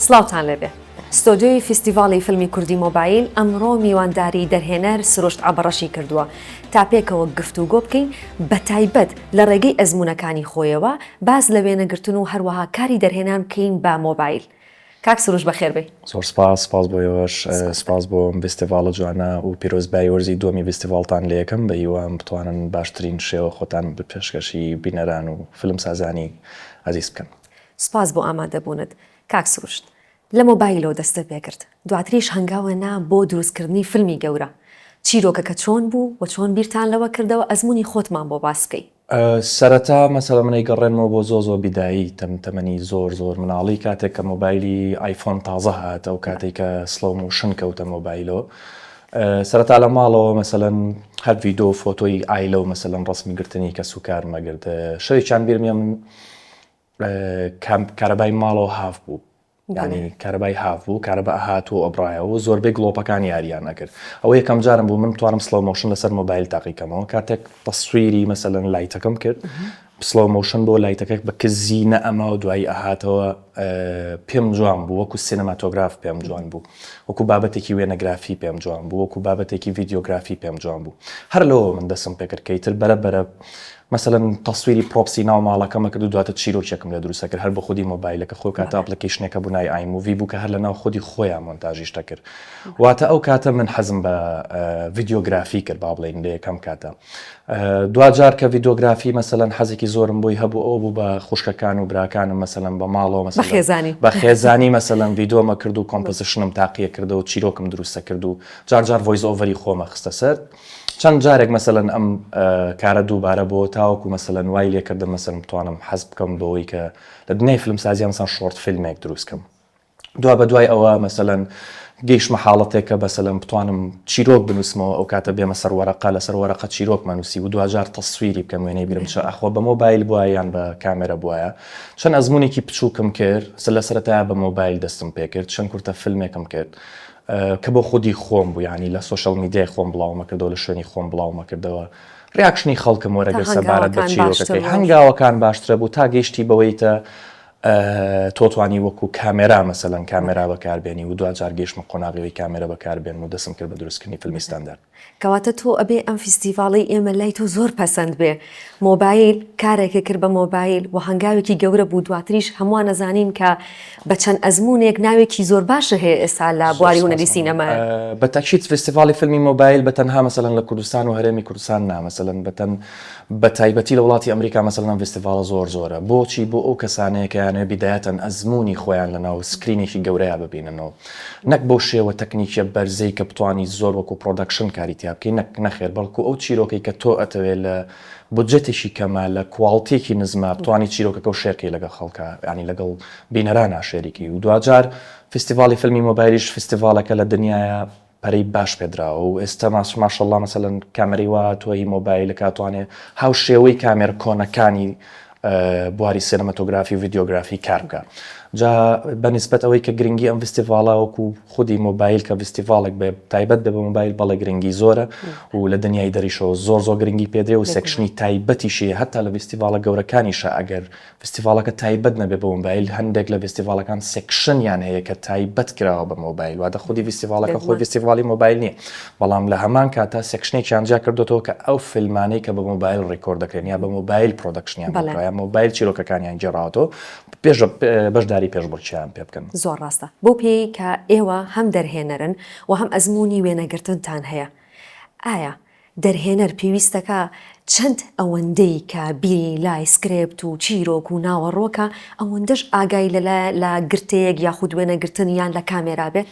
سڵاوتان لێبێ. ستۆدیۆی فیستیڤاڵی فیلمی کوردی مۆبایل ئەمڕۆ میوانداری دەرهێنەر سروشت عەبڕەشی کردووە تا پێکەوە گفتوگۆ بکەین بە تایبەت لە ڕێگەی ئەزموونەکانی خۆیەوە باس لە وێنەگرتن و هەروەها کاری دەرهێنان بکەین بە مۆبایل. کاک سروش بەخێربێی. زۆر سپاس، سپاس بۆ ئێوەش، سپاس بۆ ئەم ڤیستیڤاڵە جوانە و پیرۆزبایی وەرزی دووەمی ڤیستیڤاڵتان لێ یەکەم، بە هیوام بتوانن باشترین شێوە خۆتان بە پێشکەشی بینەران و فیلمسازانی ئازیز بکەن. سپاس بۆ ئامادەبوونت کاک سروشت. لە مۆبایلەوە دەستت پێ کرد. دواتریش هەنگاوە نا بۆ دروستکردنی فیلمی گەورە. چیرۆکەکە چۆن بوو و چۆن بیرتان لەوە کردەوە ئەزموونی خۆتمان بۆ باس بکەی. سەرەتا مەسەلە من ئەیگەڕێنمەوە بۆ زۆر زۆر بیدایی تەم تەمەنی زۆر زۆر مناڵی کاتێک کە مۆبایلی ئایفۆن تازە هات ئەو کاتەی کە سڵۆو مۆشن کەوتە مۆبایلۆ سەرەتا لە ماڵەوە مەسەلەن هەر ڤیدۆ فۆتۆی ئایلە و مەسەلەن ڕەسمی گرتنی کەسوکارم ئەگرت شەوێکیان بیرم یە من کارەبای ماڵەوە هاف بوو ینی کارەبای هاف بوو کارەبا ئەهات و ئەبراایەوە و زۆربەی گڵۆپەکان یاریان نەکرد ئەوە یەکەم جارم بوو من توانم سلڵ مۆشن لەسەر مۆبایل تاقیکەمەوە کاتێک تەسویری مەسەلەن لایتەکەم کرد پسڵۆ مۆشن بۆ لایتەکەک بە کزی نە ئەما و دوایی ئەهاتەوە پێم جوان بوو وەکو سینەماتۆگراف پێم جوان بوو وەکو بابەتێکی وێنەگرافی پێم جوان بوو وەکو بابەتێکی ڤیددیوگرافی پێم جوان بوو هەر لەوە من دەسم پێکردکەی تر بەرە بەرە مەسەلەن تەسویری پرۆپسی ناو ماڵەکەمە کرد و دواتر چیرۆکێکم لێ دروست ئەکرد هەر بە خودی مۆبایلەکە خۆی کاتە ئەپڵیکەیشنێک هەبوو ناوی ئای موڤی بوو کە هەر لەناو خودی خۆیان مۆنتاژیش دەکرد واتە ئەو کاتە من حەزم بە ڤیدیۆگرافی کرد با بڵێین لە یەکەم کاتە دواجار کە ڤیدیۆگرافی مەسەلەن حەزێکی زۆرم بۆی هەبوو ئەو بوو بە خوشکەکان و براکانم مەسەلەن بە ماڵەوە مەسەلەن خێزانی بە خێزانی مەسەلەن ڤیدۆمە کرد و کۆمپۆزیشنم تاقیە کردەوە چیرۆکم دروستە کرد و جارجار ڤۆیس ئۆڤەری خۆمە خستە سەر چەند جارێک مەسەلەن ئەم کارە دووبارە بۆ تاوەکو مەسەلەن وای لێکردم مەسەلم بتوانم حەز بکەم بەوەی کە لە دنیای فلم سازیان سان شۆرت فیلمێک دروستکەم دوا بە دوای ئەوە مەسەەن گەیشمە حاڵەتێکە بەسەلم بتوانم چیرۆک بنووسمەوە ئەو کاتە بێمە سەر وەرەقا لەسەر وەرەقە چیرۆک مەنووسی و دواجار تەسویری بکەم وێنەی برم چە ئەخۆ بە مۆبایل بووە یان بە کامێرە بواە چەند ئەزمونێکی بچووکم کرد سە لە سەرەتا بە مۆبایل دەستم پێکرد چەند کورتە فیلمێکم کرد کە بۆ خودی خۆم بوو یانی لە سۆشیال میدیای خۆم بڵاومەکردەوە لە شوێنی خۆم بڵاومەکردەوە ڕیاکشنی خەڵکم وەرەگرت سەبارەت بە چیرۆکەکەی هەنگاوەکان باشترە بوو تا گەیشتی بەوەی تە تۆ توانی وەکو کامێرا مەسەلەن کامێرا بەکاربێنی و دواجار گەیشتمە قۆناغیەوەی کامێرە بەکاربێن و دەسم کرد بە دروستکردنی فیلمی ستاندارد کەواتە تۆ ئەبێ ئەم فیستیڤاڵەی ئێمە لای تۆ زۆر پەسەند بێ مۆبایل کارێکە کرد بە مۆبایل و هەنگاوێکی گەورە بوو دواتریش هەمووان ئەزانین کە بە چەند ئەزموونێک ناوێکی زۆر باشە هەیە ئێستا لە بواری هونەری سینەما بە تاکید فیستیڤاڵی فیلمی مۆبایل بە تەنها مەسەلەن لە کوردستان و هەرێمی کوردستان نا مەسەلەن بەتەن بە تایبەتی لە وڵاتی ئەمریکا مەسەلەن ئەم فیستیڤاڵە زۆر زۆرە بۆچی بۆ ئەو کەسانەیە کە یانەوێ بیدایەتەن ئەزموونی خۆیان لەناو سکرینێکی گەورەیا ببینن و نەک بەو شێوە تەکنیکیە بەرزەی کە بتوانیت زۆر وەکو پرۆدەکشن کاری تیا بکەیت نەک نەخێر بەڵکو ئەو چیرۆکەی کە تۆ ئەتەوێت لە بودجەتێکی کەمە لە کواڵتیەکی نزمە بتوانیت چیرۆکەکەو شێرکەی لەگەڵ خەڵکا یانی لەگەڵ بینەرانا شێریکەی و دواجار فیستیڤاڵی فیلمی مۆبایلیش فیستیڤاڵێکە لە دنیایا پەرەی باش پێدراوە و ئێستا ماشەڵڵا مەسەلەن کامێرەی وا هاتووە هی مۆبایلەک ئەتوانێ هاوشێوەی کامێرە کۆنەکانی بواری سێنەمەتۆگرافی و ڤیدیۆگرافی کار بکە جا بە نسبەت ئەوەی کە گرنگی ئەم فستیڤاڵا وەکو خودی مۆبایل کە فستیڤالێک بێ تایبەت بێ بە مۆبایل بەڵێ گرنگی زۆرە و لە دنیای دەریشەوە زۆر زۆر گرنگی پێدرێ و سێکشنی تایبەتیشی هەتا لە فستیڤالە گەورەکانیشە ئەگەر فستیڤاڵەکە تایبەت نەبێت بە مۆبایل هەندێک لە ڤستیڤاڵەکان سێکشنیان هەیە کە تایبەت کراوە بە مۆبایل واتە خودی ڤستیڤاڵەکە خۆی ڤستیڤاڵی مۆبایل نییە بەڵام لە هەمان کاتا سێکشنێکیان جیا کردۆتەوە کە ئەو فیلمانەی کە بە مۆبایل ڕیکۆرد دەکرێن یا بە مۆبایل پرۆدەکشنیان بەڵێ مۆبایل چیرۆکەکانیان گێڕاوەتەوە پێش بەشداری پێشبڕکێیان پێ بکەن. زۆر ڕاستە بەو پێیەی کە ئێوە هەم دەرهێنەرن و هەم ئەزموونی وێنەگرتنتان هەیە ئایا دەرهێنەر پێویستەکە چەند ئەوەندەی کە بیری لای سکرێپت و چیرۆک و ناوەڕۆکە ئەوەندەش ئاگای لە لە گرتەیەک یاخود وێنەگرتن یان لە کامێرا بێت؟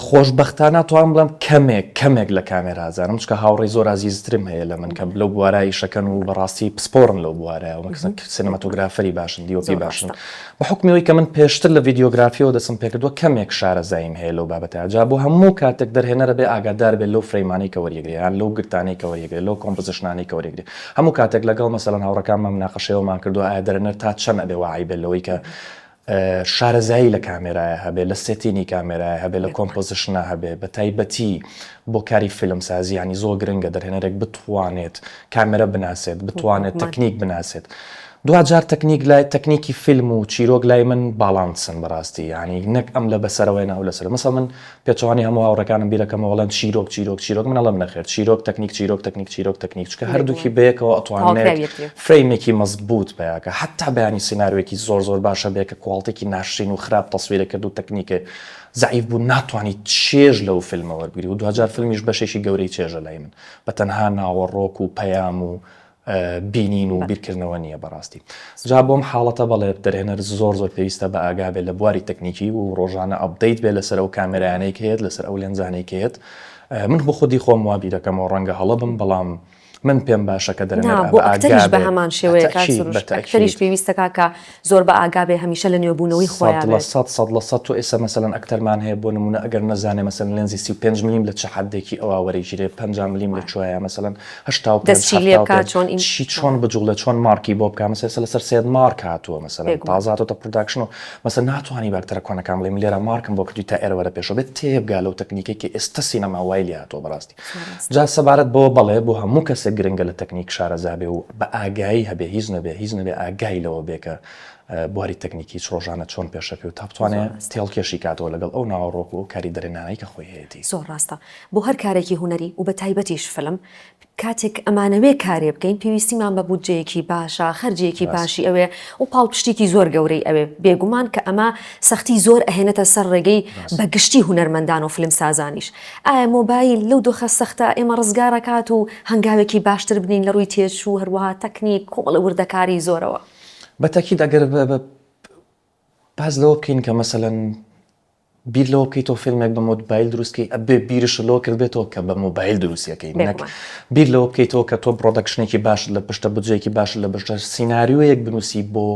خۆشبەختانە توام بڵێم کەمێک کەمێک لە کامێرا زانم چکە هاوڕێی زۆر ئازیزترم هەیە لە من کە لەو بوارە ئیشەکەن و بەڕاستی پسپۆڕن لەو بوارە سنەماتۆگرافەری باشن دیۆپی باشن بە حوکمی ئەوەی کە من پێشتر لە ڤیدیۆگرافییەوە دەستم پێکردووە کەمێک شارەزاییم هەیە لەو بابەتە، جا بۆ هەموو کاتێک دەرهێنەر ئەبێ ئاگادار بێت لەو فرەیمانەی کە وەریەگرێ یان لەو گرتانەی کە وەریەگرێ لەو کۆمپزشنانەی کە وەریەگرێ هەموو کاتێک لەگەڵ مەسەلەن هاوڕێکانمان مناقەشەی ئەوەمان کردووە ئایا دەرهێنەر تا چەند ئەبێ واعی بێت لەوەی کە شارەزایی لە کامێرایە هەبێ لە سێتینی کامێرایە هەبێ لە کۆمپۆزیشنا هەبێ بە تایبەتی بۆ کاری فیلمسازی ینی زۆر گرنگە دەرهێنەرێک بتوانێت کامێرە بناسێت بتوانێت تەکنیک بناسێت دواجار تەکنیک لای تەکنیکی فیلم و چیرۆک لای من باڵانسن بەڕاستی یانی نەک ئەم لە بەسەرەوەیەنە ئەو لەسەر مەسەڵ من پێچەوانی هەموو هاوڕێکانم بیرەکەمە وەڵێن چیرۆک چیرۆک چیرۆک من ئەڵێم نەخێر چیرۆک تەکنیک چیرۆک تەکنیک چیرۆک تەکنیک چکە هەردووکی بەیەکەوە ئەتوانێت فرەیمێکی مەزبووت پێیاکە حتا بەیانی سینناروێکی زۆر زۆر باشە بێ کە کوواڵتێکی ناشرین و خراپ تەسویرە کرد و تەکنیکە زعیف بوو ناتوانانی چێژ لەو فیلمە وەرگری و دواجار فیلمیش بەشێکی گەورەی چێژە لای من بە تەنها ناوەڕۆک و پەیام و بینین و بیرکردنەوە نیە بەڕاستی جا بۆم حاڵەتە بەڵێ دەرهێنەر زۆر زۆر پێویستە بە ئاگا بێت لە بواری تەکنیکی و ڕۆژانە ئەپدەیت بێت لەسەر ئەو کامێرایانەی کە هەیەت لەسەر ئەو لێنزانەی کە هەیەت من بۆ خودی خۆم وا بیرەکەمەوە ڕەنگە هەڵە بم بەڵام من پێم باشە کە دەرهێنەر ئەگا بێت بە هەمان شێوەیە کە ئەکتەریش پێویستە کاکە زۆر بە ئاگا بێ هەمیشە لە نوێ بوونەوەی خۆیا بێت. سەد لە سەد سەد لە سەد تۆ ئێستا مەسەلەن ئەکتەرمان هەیە بۆ نموونە ئەگەر نەزانێ مەسەلەن لێنزی سی و پێنج ملیم لە چ حەددێکی ئەوا وەرەیگیرێ پەنجا ملیم لە کوێیە مەسەلەن هەشتا و پێنج دەستی لێ حەفتا و بکا پێنج چۆن ئیم چی چۆن بجووڵێ چۆن مارکی بۆ بکا مەسەلەن ئێستا لەسەر سێد مارک هاتووە مەسەلەن بێگومان. تازە هاتۆتە پڕۆداکشن و مەسەلەن ناتوانی بە ئەکتەرە کۆنەکان بڵێ من لێرە مارکم بۆ کردووی تا ئێرە وەرە پێشەوە بێت تێبگا لەو تەکنیکەی کە ئێستا سینەما وای لێ هاتووە بەڕاستی. جا سەبارەت بەوە بەڵێ بۆ هەموو کەسێک گرنگە لە تەکنیک شارەزا بێ و بە ئاگایی هەبێ هیچ نەبێ هیچ نەبێ ئاگای لەوە بێ کە بواری تەکنیکی چ ڕۆژانە چۆن پێشەکەی و تا بتوانێت تێڵکێشی کاتەوە لەگەڵ ئەو ناوەڕۆک و کاری دەرێنانەی کە خۆی هەیەتی. زۆر ڕاستە بۆ هەر کارێکی هونەری و بەتایبەتیش فیلم کاتێک ئەمانەوێ کارێ بکەین پێویستیمان بە بودجەیەکی باشە خەرجێکی باشی ئەوێ و پاڵپشتێکی زۆر گەورەی ئەوێ بێگومان کە ئەمە سەختی زۆر ئەهێنێتە سەر ڕێگەی بە گشتی هونەرمەندان و فیلمسازانیش ئایا مۆبایل لەو دۆخە سەختە ئێمە ڕزگار ئەکات و هەنگاوێکی باشتر بنێین لە ڕووی تێچوو، هەروەها تەکنیک، کۆمەڵە وردەکاریی زۆرەوە؟ بە تەکید ئەگەر باس لەوە بکەین کە مەسەلەن بیر لەوە بکەیتەوە فیلمێک بە مۆدبایل دروست کەی ئەبێ بیرشت لەوە کردبێتەوە کە بە مۆبایل دروستیەکەی نەک بیر لەوە بکەیتەوە کە تۆ پرۆدەکشنێکی باشت لە پشتە بجێکی باشت لە بەشتە سیناریۆیەک بنووسی بۆ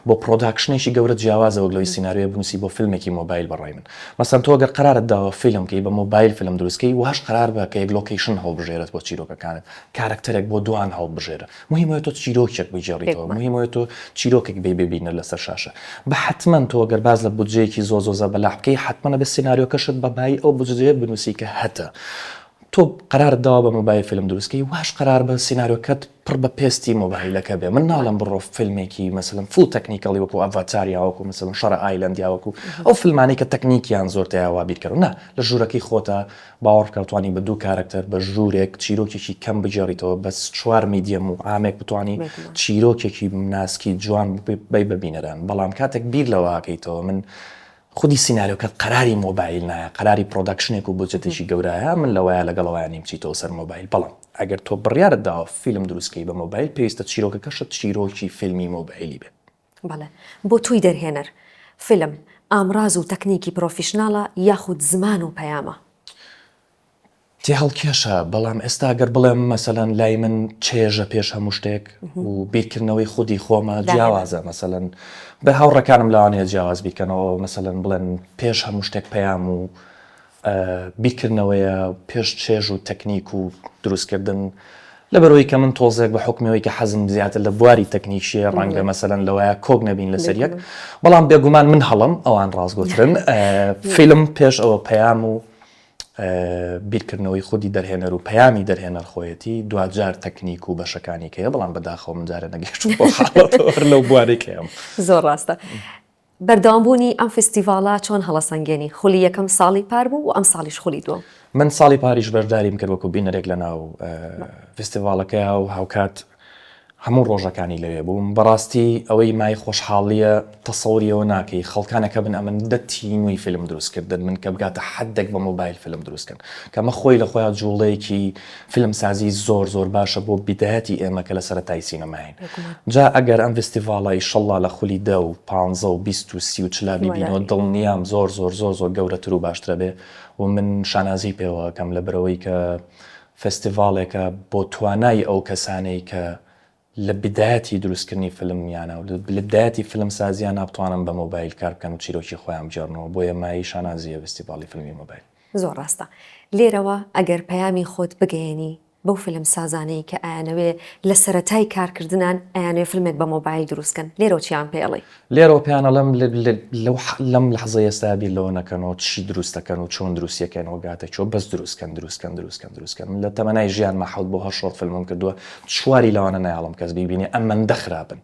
بۆ پڕۆداکشنێکی گەورە جیاوازە وەک لەوەی سیناریۆیە بنوسی بۆ فیلمێکی مۆبایل بەڕای من مەسەن تۆ گەر قەرارت داوە فیلم کەی بە مۆبایل فیلم دروست کەی واش قەرار بە کە یەک لۆکەیشن هەڵبژێرت بۆ چیرۆکەکانت کارەکتەرێک بۆ دوان هەڵبژێرە موهیم ئەوەیە تۆ چیرۆکێک بگێڕیتەوە موهیم ئەوەیە تۆ چیرۆکێک بێی بێ بینەر لەسەر شاشە بە حەتمەن تۆ گەر باس لە بودجەیەکی زۆر زۆر زەبەلاح بکەی حەتمەن ئەبێ سیناریۆکەشت بە بایی ئەو بودجەیە بنوسی کە هەتە تۆ قەرارت داوە بە مۆبایل فیلم دروست کەی واش قەرار بە سینارۆکەت پڕ بە پێستی مۆبایلەکە بێ من ناڵێم بڕۆ فیلمێکی مەسەلەن فوڵ تەکنیکەڵی وەکو ئەڤاتار یا وەکو مەسەلەن شەڕە ئایلەند یا وەکو ئەو فیلمانەی کە تەکنیکیان زۆر تیا وا بیرکەرەوە نا لە ژوورەکەی خۆتا باوەڕ بکە توانی بە دوو کارەکتەر بە ژوورێک چیرۆکێکی کەم بگێڕیتەوە بەس چوار میدیەم و عامێک بتوانی چیرۆکێکی ناسکی جوان بی بە بینەران بەڵام کاتێک بیر لەوە ئەکەیتەوە من خودی سیناریۆکە قەراری مۆبایل نایە قەراری پڕۆدەکشنێک و بودجەتێکی گەورایە من لەوەیە لەگەڵەوەیان نیم بچیتەوە سەر مۆبایل بەڵام ئەگەر تۆ بڕیارت داوە فیلم دروست کەی بە مۆبایل پێویستە چیرۆکەکەشت چیرۆکی فیلمی مۆبایلی بێت. بەڵێ بۆ تۆی دەرهێنەر فیلم ئامڕاز و تەکنیکی پڕۆفیشناڵە یاخود زمان و پەیامە؟ تێهەڵکێشە، بەڵام ئێستا گەر بڵێم مەسەلەن لای من چێژە پێش هەموو شتێک و بیرکردنەوەی خودی خۆمە جیاوازە مەسەلەن بە هاوڕێکانم لەوانەیە جیاواز بیکەنەوە مەسەلەن بڵێن پێش هەموو شتێک پەیام و بیرکردنەوەیە پێش چێژ و تەکنیک و دروستکردن لەبەرەوەی کە من تۆزێک بە حکمەوەی کە حەزم زیاتر لە بواری تەکنیکشیە ڕەنگە مەسەلەن لەوەیە کۆک نەبین لەسەر یەک بەڵام بێگومان من هەڵم ئەوان ڕاستگۆترن فیلم پێش ئەوە پەیام و بیرکردنەوەی خودی دەرهێنەر و پەیامی دەرهێنەر خۆیەتی، دواجار تەکنیک و بەشەکانی کەیە، بەڵام بەداخەوە من جارێ نەگەیشتووم بەو حاڵەتەوە هەر لەو بوارەی کەیەم. زۆر ڕاستە. بەردەوام بوونی ئەم فیستیڤاڵە چۆن هەڵەسەنگێنی؟ خولی یەکەم ساڵی پار بوو و ئەمساڵیش خولی دووەم. من ساڵی پاریش بەشداریم کرد وەکوو بینەرێک لەناو فیستیڤاڵەکەیا و هاوکات، هەموو ڕۆژەکانی لەوێ بووم بەڕاستی ئەوەی مای خۆشحاڵیە تەسەوری ئەوە ناکەی خەڵکانە کەبن ئەمن دە تینووی فیلم دروست کردن من کەبگاتە حەدێک بە مۆبایل فیلم دروست کەن کەمە خۆی لە خۆیا جوڵەیەکی فیلم سازی زۆر زۆر باشە بۆ بیدایەتی ئێمە کە لە سەرەتای سینەماین جا ئەگەر ئەم ڤستیڤاڵە ئیشەڵا لە خولی دە و پانزە و بیست و سی و چلا بیبینەوە دڵنیام زۆر زۆر زۆر زۆر گەورەتر و باشترەبێ و من شانازی پێوە ئەکەم لە برەوەی کە فستیڤاڵێکە بۆ توانای ئەو کەسانەی کە لە بدایەتی دروستکردنی فلمیانە و لە بدایەتی فلمسازییە نابتوانن بە مۆبایل کار بکەن و چیرۆکی خۆیان بگێڕنەوە، بۆیە مایەی شانازییە ڤستیڤاڵی فلمی مۆبایل. زۆر ڕاستە. لێرەوە ئەگەر پەیامی خۆت بگەیەنی بەو فلمسازانەی کە ئەیانەوێ لە سەرەتای کارکردنان ئەیانەوێ فلمێک بە مۆبایل دروست کەن، لێرەوە چیان پێ ئەڵێی؟ لێرەوە پێیان ئەڵێم لەم لەحزەی ئێستا بیر لەوە نەکەنەوە چی دروست دەکەن و چۆن دروستی دەکەنەوە گاتە چۆ بەس دروستکەن دروستکەن دروستکەن دروستکەن من لە تەمەنای ژیانما حەوت بۆ هەر شۆرت فیلمم کردووە چواری لەوانە نایەڵم کەس بیبینێ ئەمەندە خراپن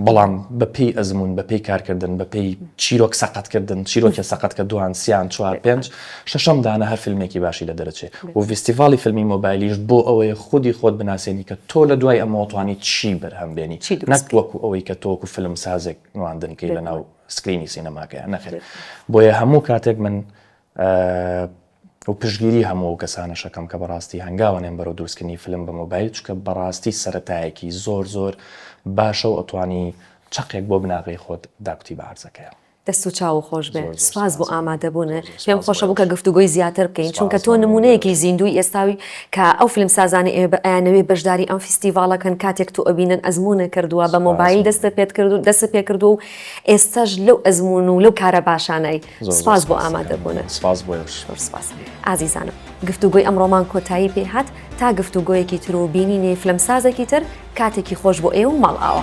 بەڵام بەپێی ئەزموون بەپێی کارکردن بەپێی چیرۆک سەقەتکردن چیرۆکێ سەقەت کە دوان سیان چوار پێنج شەشەم دانە هەر فیلمێکی باشی لە دەرەچێ و ڤیستیڤاڵی فیلمی مۆبایلیش بۆ ئەوەیە خودی خۆت بناسێنی کە تۆ لە دوای ئەمەوە توانی چی بەرهەم بێنی نەک وەکو ئەوەی کە تۆ وەکو فیلم سازێک نواندن کەی لە ناو سکرینی سینەماکەیە نەخێر بۆیە هەموو کاتێک من و پشگیری هەموو ئەو کەسانە شەکەم کە بەڕاستی هەنگاوە نێن بەرەو دروستکردنی فلم بە مۆبایل چکە بەڕاستی سەتایەکی زۆر زۆر باشە و ئەتوانی چقێک بۆ بناغی خۆت داکوتی بە عرزەکەیە دەست و چاوو خۆش بێ سوپاس بۆ ئامادەبونت پێم خۆشە بوو کە گفتوگۆی زیاتر بکەین چونکە تۆ نمونەیەکی زیندووی ئێستاوی کە ئەو فیلم سازانەی ئێمە بە ئەیانەوێ بەشداری ئەم فیستیڤاڵە کەن کاتێک تۆ ئەبینن ئەزمونە کردوە بە مۆبایل دەستە پێت کردو دەست پێ کردوە و ئێستاش لەو ئەزمون و لەو کارە باشانەی سوپاس بۆ ئامادەبونت سوپاس بۆ ئێوەش زۆر سوپاس ئازیزانم گفتوگۆی ئەمڕۆمان کۆتایی پێ هات تا گفتوگۆیەکی تر و بینینی فلم سازێکی تر کاتێکی خۆش بۆ ئێوە و ماڵئاوا.